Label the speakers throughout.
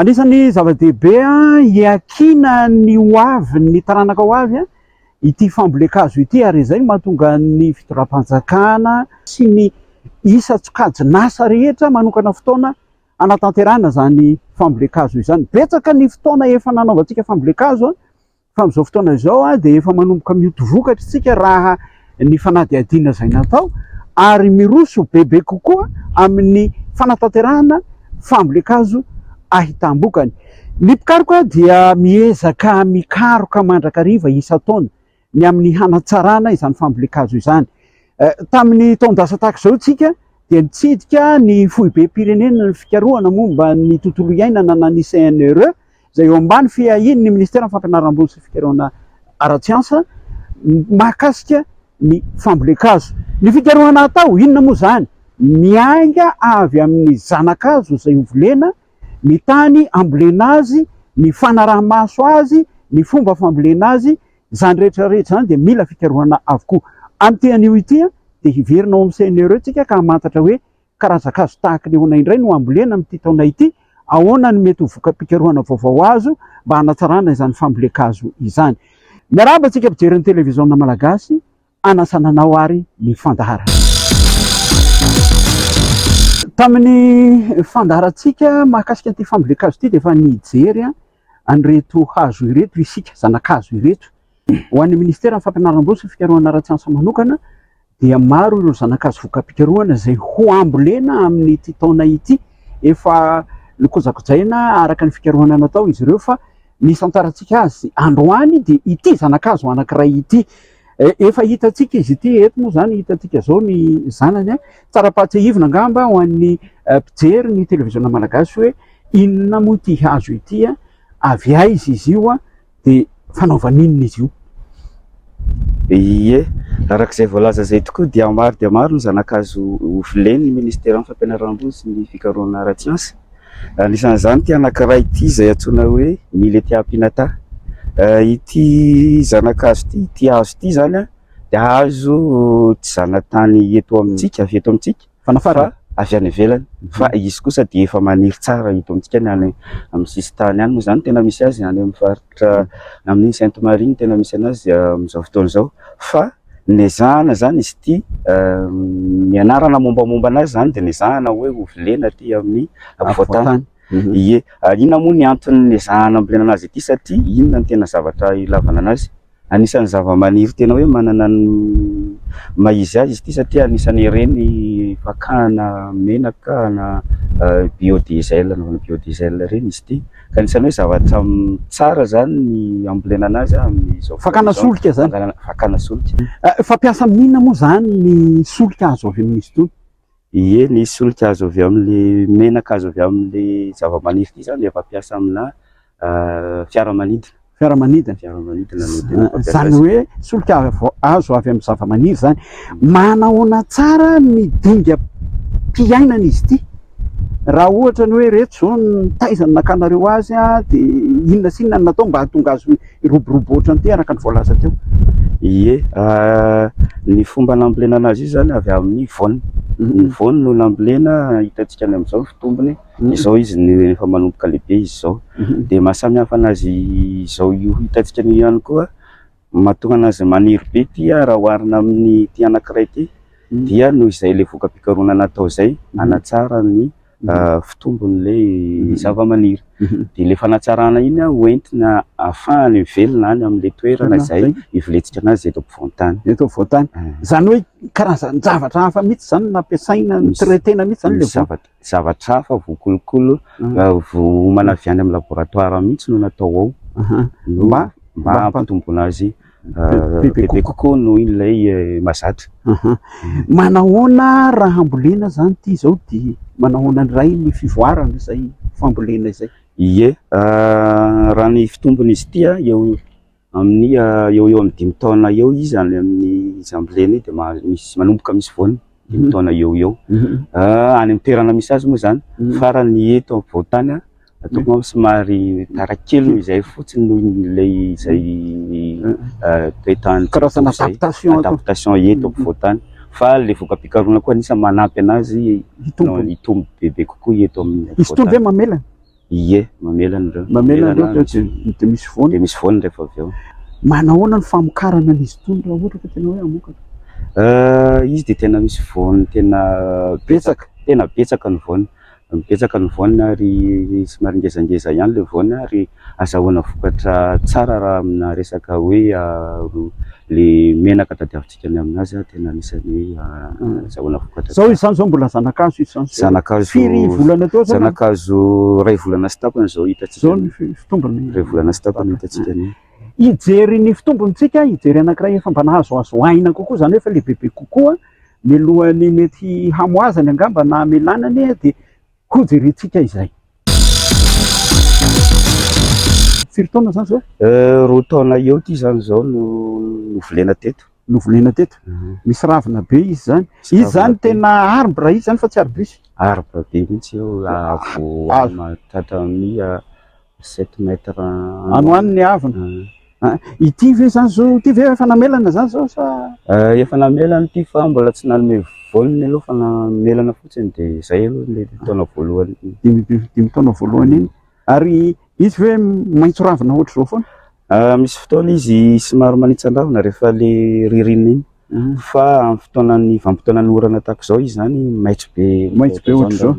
Speaker 1: Anisan'ny zava-dehibe hiakiana ny ho avy, ny taranaka ho avy, ity fambolen-kazo ity ary izay no mahatonga ny fitondram-panjakana sy ny isan-tsokajin'asa rehetra manokana fotoana hanatanterahana izany fambolen-kazo izany. Betsaka ny fotoana efa nanaovantsika fambolen-kazo Fa amin'izao fotoana izao dia efa manomboka mioty vokatra isika raha ny fanadihadiana izay natao ary miroso bebe kokoa amin'ny fanatanterahana fambolen-kazo ahitam-bokany. Ny mpikaroka dia miezaka mikaroka mandrakariva isan-taona ny amin'ny hanatsarana izany fambolen-kazo izany. Tamin'ny taon-dasa tahaka izao isika dia nitsidika ny foibem-pirenena ny fikarohana momba ny tontolo iainana na ny CNRE izay eo ambany fiahian'ny Ministeran'ny Fampianaram-boly sy Fikarohana ara-tsiansa mahakasika ny fambolen-kazo. Ny fikarohana atao, inona moa izany? Miainga avy amin'ny zana-kazo izay hovolena, ny tany hambolena azy, ny fanaraha-maso azy, ny fomba fambolena azy, izany rehetra rehetra izany dia mila fikarohana avokoa. Amin'ity anio ity dia hiverina ao amin'ny CNRE tsika ka hamantatra hoe Karazan-kazo tahaka ny ahoana indray no hambolena amin'ity taona ity? Ahoana no mety ho voka-pikarohana vaovao azo mba hanatsarana izany fambolen-kazo izany? Miarahaba antsika mpijery ny Televiziona Malagasy, hanasana anao ary ny fandaharana. Tamin'ny fandaharantsika mahakasika an'ity fambolen-kazo ity dia efa nijery an'ireto hazo ireto isika, zana-kazo ireto. Ho an'ny Ministeran'ny Fampianaram-bola sy Fikarohana ara-tsiansa manokana dia maro ireo zanakazo voka-pikarohana izay ho ambolena amin'ity taona ity. Efa nokojakojaina araka ny fikarohana natao izy ireo fa ny isantarantsika azy androany dia ity zanakazo anankiray ity. Efa hitantsika izy ity, eto moa izany hitantsika izao ny zanany. Tsara-pahatsiahivina angamba ho an'ny mpijery ny televiziona malagasy hoe inona moa ity hazo ity, avy aiza izy io. dia fanaovana inona izy io? Ie,
Speaker 2: araka izay voalaza izay tokoa dia maro dia maro ny zana-kazo hovolen'ny ministeran'ny fampianaram-boly sy ny fikarohana ara-tsiansa. Anisan'izany ity anankiray ity izay antsoina hoe Millettia pinnata. Ity zana-kazo ity, ity hazo ity izany dia hazo tsy zanatany eto amintsika, avy eto amintsika. Fanafarana avy any ivelany fa izy kosa dia efa maniry tsara eto amintsika ny any amin'ny sisintany any moa izany tena misy azy any amin'ny faritra amin'ny Sainte Marie no tena misy anazy amin'izao fotoana izao fa nezahana izany izy ity ny anarana mombamomba anazy izany dia nezahana hoe ho vilena aty amin'ny afovoantany ie ary inona moa ny antony nezahana ambolena anazy ity satria inona ny tena zavatra ilavana anazy Anisan'ny zavamaniry tena hoe manana ny maha izy azy izy ity satria anisan'ireny fakana menaka na biodiesel, anaovana biodiesel ireny izy ity. Ka anisan'ny hoe zavatra tsara izany ny ambolena an'azy amin'izao fotoana izao. Fakana solika izany? Fakana,
Speaker 1: fakana solika.
Speaker 2: Fampiasa amin'inona
Speaker 1: moa izany ny solika azo avy amin'izy itony? Ie, ny
Speaker 2: solika azo avy amin'ilay menaka azo avy amin'ilay zava-maniry ity izany dia fampiasa aminà fiaramanidina. Fiaramanidina? Fiaramanidina no tena fampiasa
Speaker 1: azy. Izany hoe solika azo avy amin'ny zava-maniry izany. Manahoana tsara ny dingam-piainana izy ity? Raha ohatra ny hoe ireto izao no nitaiza ny nakanareo azy dia inona sy inona no natao mba hahatonga azy ho. Hiroborobo ohatran'ity araka ny voalaza teo. Ie, raha
Speaker 2: ny fomba nambolena anazy izy izany avy amin'ny voany. Ny voany no nambolena, hitantsika any amin'izao ny fitombony. Izao izy no efa manomboka lehibe izy izao. Dia maha samy hafa anazy izao io hitantsika an'io ihany koa, mahatonga anazy maniry be ity raha oharina amin'ity anankiray ity, dia noho izay ilay voka-pikarohana natao izay, hanatsara ny. fitombony ilay zavamaniry dia ilay fanatsarana iny ho entina hahafahany mivelona any amin'ilay toerana izay hiveletsika an'azy eto ampovoan-tany. Eto ampovoan-tany.
Speaker 1: Izany hoe karazan-javatra hafa mihitsy izany no nampiasaina ny traitena mihitsy izany ilay zavatra. Zavatra hafa
Speaker 2: voakolokolo, voaomana avy any amin'ny laboratoara mihitsy no natao ao mba hampitomboana azy. bebe kokoa noho ilay eh, mazatra. Manahoana
Speaker 1: raha hambolena zany ty zao di manahoana ndray ny fivoarana izay fambolena izay? Ie,
Speaker 2: ah, raha ny fitombony izy ity ah, eo amin'ny ah, eo eo amin'ny dimy taona eo izy any amin'ny izy ambolena io dia misy manomboka misy voany. dimy taona eo eo any amin'ny toerana misy azy moa zany farany eto ampovoantany ataoko angamba somary tara kely noho izay fotsiny noho ilay izay toetany karazana
Speaker 1: adaptation adaptation
Speaker 2: eto ampovoantany fa le voka-pikarohana koa anisany manampy anazy hitombo hitombo bebe kokoa eto amin'ny izy itony ve mamelana
Speaker 1: Ie,
Speaker 2: mamela an'ireo. Mamela an'ireo avy eo dia
Speaker 1: dia misy voany. Dia misy voany rehefa avy eo.
Speaker 2: Manahoana ny
Speaker 1: famokarana an'izy itony raha ohatra ka tena hoe hamokatra? Euh, izy dia tena misy
Speaker 2: voany tena betsaka,
Speaker 1: tena betsaka
Speaker 2: ny voany. Betsaka ny voany ary somary ngezangeza ihany ilay voany ary azahoana vokatra tsara raha amina resaka hoe le menaka tadiavintsika. Midika ny aminazy aho tena anisan'ny hoe azahoana vokatra tsara. Zao izany zao mbola
Speaker 1: zanakazo izany zao. Zanakazo. Firy
Speaker 2: volana teo zany?
Speaker 1: Zanakazo iray
Speaker 2: volana sy tapany zao hitantsika. Zao ny fitombony.
Speaker 1: Iray volana sy tapany
Speaker 2: hitantsika an'io. Hijery ny
Speaker 1: fitombontsika, hijery anankiray efa mba nahazoazo aina kokoa zany hoe efa lehibebe kokoa, mialohan'ny mety hamoazany angamba na hamelanany dia Hojerentsika izay. Firy taona zany zao? Euh, roa taona eo
Speaker 2: ty zany zao no novolena teto. Novolena teto. Mhm.
Speaker 1: Misy ravina be izy zany. Izy zany tena arbre izy zany fa tsy arbus. Arbre be mihitsy eo
Speaker 2: avo ah, ah. mahatratra amin'ny ah, Sept mètres an. Ano any ny
Speaker 1: havona. Ah. Ah, ity ve zany zao? Ity ve efa namelana zany zao sa? Ah, efa namelana
Speaker 2: ity fa mbola tsy nanome voany aloha fa namelana fotsiny de zay aloha le taona voalohany. Dimy dimy taona voalohany iny.
Speaker 1: Ary izy ve maitso ravina ohatr'izao foana? Misy fotoana
Speaker 2: izy somary manitsan-drahona rehefa le ririnina iny fa amin'ny fotoanan'ny vanim-potoanan'ny orana tahaka izao izy zany maitso be maitso be ohatr'izao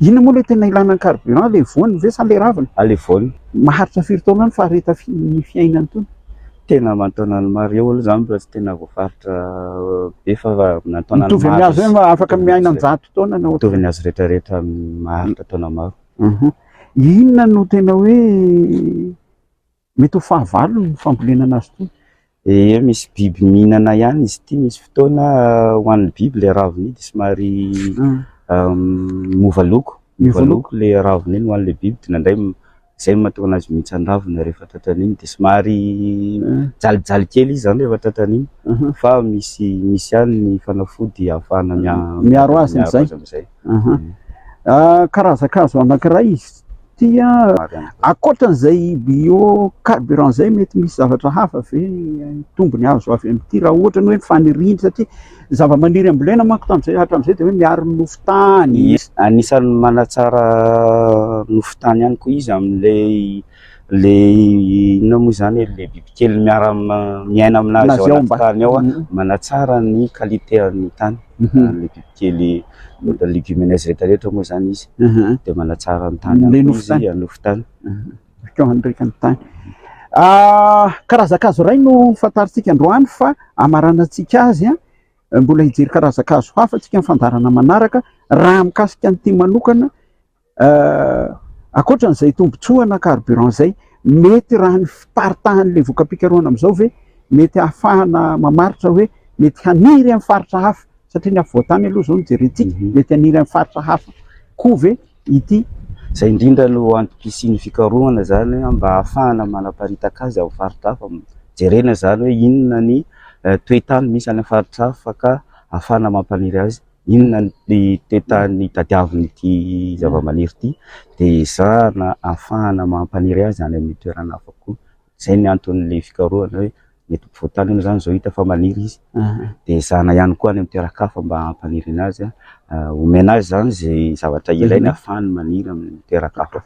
Speaker 1: inona moa le tena ilana ny carburant le voany ve sa le raviny a le voany
Speaker 2: maharitra firy taona
Speaker 1: any fahareta ny fiainany tony tena aman-taonany
Speaker 2: maro eo aloha zany mbola tsy tena voafaritra be fa aman-taonany mitovy amin'ny azy hoe afaka
Speaker 1: miaina an-jato taona na mitovy ny azy rehetra rehetra
Speaker 2: maharitra taona maro inona
Speaker 1: no tena hoe Mety ho fahavalony ny fambolena anazy itony. Ee misy
Speaker 2: biby mihinana ihany izy ity, misy fotoana ho an'ny biby ilay ravina io dia somary miova loko, miova loko ilay ravina iny ho an'ilay biby dia indraindray izay no mahatonga anazy mihitsa ny ravina rehefa tratran'ny iny dia somary jalijaly kely izy izany rehefa tratran'ny iny fa misy misy ihany ny fanafody ahafahana miaro azy
Speaker 1: amin'izay. Karazan-kazo anankiray izy. Tia ankoatran'izay bio carburant izay mety misy zavatra hafa ve tombony azo avy amin'ity raha ohatra ny hoe faniriany satria ny zavamaniry ambolena manko tamin'izay hatramin'izay dia hoe miaro ny nofo tany. Anisan'ny
Speaker 2: manatsara nofo tany ihany koa izy amin'ilay ilay inona moa izany e, ilay bibikely miara miaina aminazy ao anaty tany ao, manatsara ny qualité an'ny tany. kely legumineuses rehetra rehetra moa zany izy dia manatsara ny tany any koa izy hanofy tany bakeo
Speaker 1: handreka ny tany karazan-kazo iray no fantarintsika androany fa hamaranantsika azy mbola hijery karazan-kazo hafa antsika ny fandaharana manaraka raha mikasika an'ity manokana Ankoatra an'izay tombontsoana carburant izay, mety raha ny fiparitahan'ilay voka-pikarohana amin'izao ve mety hahafahana mamaritra hoe mety haniry amin'ny faritra hafa, satria ny afovoan-tany aloha izao no jerentsika, mety haniry amin'ny faritra hafa koa ve ity? Izay indrindra
Speaker 2: no antoko hisian'ny fikarohana izany mba hahafahana manaparitaka azy amin'ny faritra hafa, jerena izany hoe inona ny toe-tany misy any amin'ny faritra hafa ka hahafahana mampaniry azy Inona ny toetany hitadiaviny ity zavamaniry ity dia ezahana ahafahana mampaniry azy any amin'ny toerana hafa koa. Izay ny anton'ny fikarohana hoe mety ampovoan-tany anie izany izao hita fa maniry izy dia ezahana ihany koa any amin'ny toeran-kafa mba hampanirina azy, omena azy izany izay zavatra ilainy ahafahany maniry amin'ny toeran-kafa.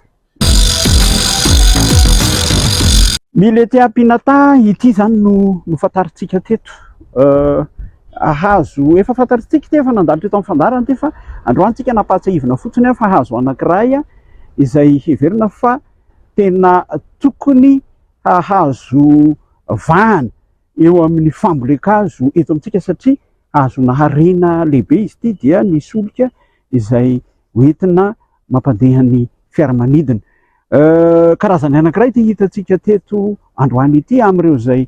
Speaker 1: Milete Apinata ity izany no nofantarintsika teto. Hazo efa fantarintsika ity, efa nandalo teto amin'ny fandaharana ity fa androany isika nampahatsiahivina fotsiny fa hazo anankiray izay heverina fa tena tokony hahazo vahana eo amin'ny fambolen-kazo eto amintsika satria hazo naharena lehibe izy ity dia ny solika izay hoentina mampandeha ny fiaramanidina. Karazany anankiray ity hitantsika teto androany ity amin'ireo izay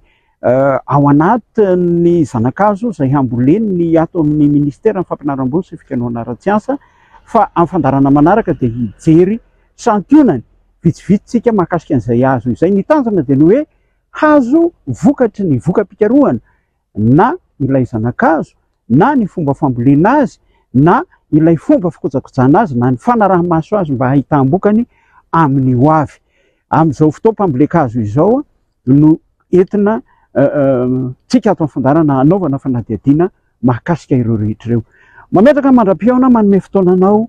Speaker 1: ao anatin'ny zanakazo izay hambolen'ny ato amin'ny ministeran'ny fampianaram-boly sy fikenoana ara-tsiansa fa amin'ny fandarana manaraka dia hijery santionany vitsivitsy tsika mahakasika an'izay azo izay. Ny tanjona dia ny hoe hazo vokatry ny voka-pikarohana na ilay zana-kazo, na ny fomba fambolena azy, na ilay fomba fikojakojana azy, na ny fanaraha-maso azy mba hahitam-bokany amin'ny ho avy. Amin'izao fotoam-pambolen-kazo izao no entina tsika ato amin'ny fandarana hanaovana fanadihadiana mahakasika ireo rehetra ireo. Mametraka mandra-pihaona manome fotoana anao